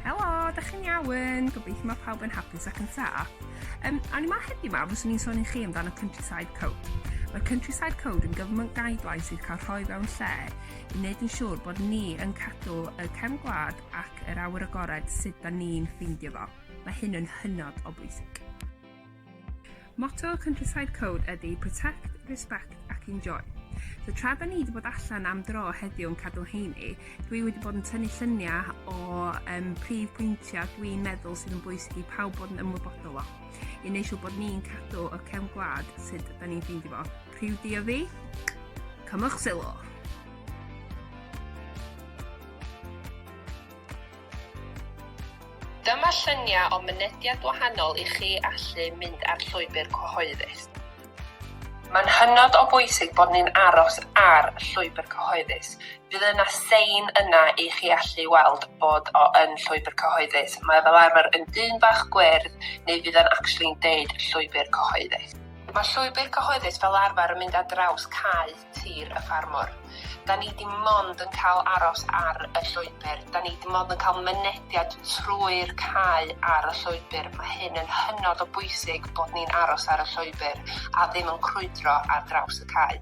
Helo, da chi'n iawn? Gobeithio mae pawb yn hapus ac yn saff. Um, a ni ma heddi ma, fyswn i'n sôn i chi amdano Countryside Code. Mae'r Countryside Code yn gyfnod guidelines sydd cael rhoi fewn lle i wneud yn siŵr bod ni yn cadw y cefn gwlad ac yr awyr agored sut da ni'n ffeindio fo. Mae hyn yn hynod o bwysig. Motto Countryside Code ydy Protect, Respect ac Enjoy. So tra da ni wedi bod allan am dro heddiw yn cadw heini, dwi wedi bod yn tynnu lluniau o um, prif pwyntiau dwi'n meddwl sydd yn bwysig i pawb bod yn ymwybodol o. I wneud siw bod ni'n cadw y cefn gwlad sydd da ni'n ffeindio fo. Priw di o fi, cymwch sylw. Dyma lluniau o mynediad wahanol i chi allu mynd ar llwybr cyhoeddus. Mae'n hynod o bwysig bod ni'n aros ar llwybr cyhoeddus. Bydd yna sein yna i chi allu weld bod o yn llwybr cyhoeddus. Mae fel arfer yn dyn bach gwyrdd neu fydd o'n actually'n deud llwybr cyhoeddus. Mae llwybr cyhoeddus fel arfer yn mynd ar draws cae. Tir y Ffarmwr. Da ni dim ond yn cael aros ar y llwybr, da ni dim ond yn cael mynediad trwy'r cae ar y llwybr. Mae hyn yn hynod o bwysig bod ni'n aros ar y llwybr a ddim yn crwydro ar draws y cae.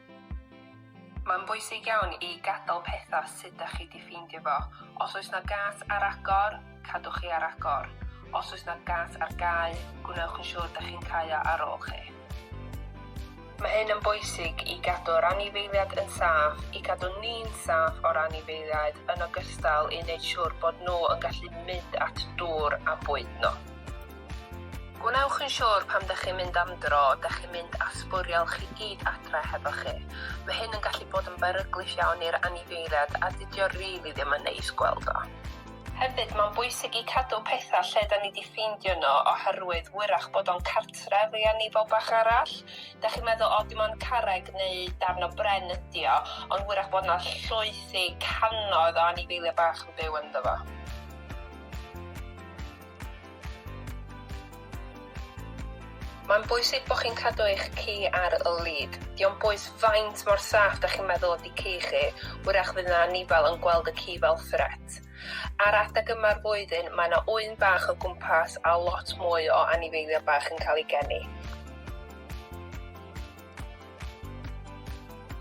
Mae'n bwysig iawn i gadael pethau sut dach chi 'di ffeindio fo. Os oes 'na gât ar agor, cadwch hi ar agor. Os oes 'na gât ar gau, gwnewch yn siŵr dach chi'n cau o ar ôl chi. Mae hyn yn bwysig i gadw'r anifeiliaid yn saff, i gadw ni'n saff o'r anifeiliaid, yn ogystal i wneud siŵr bod nhw yn gallu mynd at dŵr a bwyd nhw. Gwnewch yn siwr pan dach chi'n mynd am dro, dach chi'n mynd â'ch sbwriel chi gyd adre hefo chi. Mae hyn yn gallu bod yn beryglus iawn i'r anifeiliad a dydi o rili ddim yn neis gweld o. Hefyd, mae'n bwysig i cadw pethau lle 'da ni 'di ffeindio nhw oherwydd wyrach bod o'n cartref i anifal bach arall. Dach chi'n meddwl, 'O, dim ond carreg neu darn o bren ydi o, ond wyrach bod 'na llwythi cannoedd o anifeiliaid bach yn byw ynddo fo. Mae'n bwysig bod chi'n cadw eich ci ar y lid. Dio'm bwys faint mor saff da chi'n meddwl ydi ci chi, wrach fydd 'na anifail yn gweld y ci fel threat. Ar adeg yma'r flwyddyn, mae 'na ŵyn bach o gwmpas a lot mwy o anifeiliaid bach yn cael eu geni.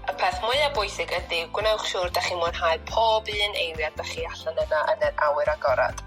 Y peth mwya bwysig ydi gwnewch siwr da chi'n mwynhau pob un eiliad da chi allan yna yn yr awyr agored.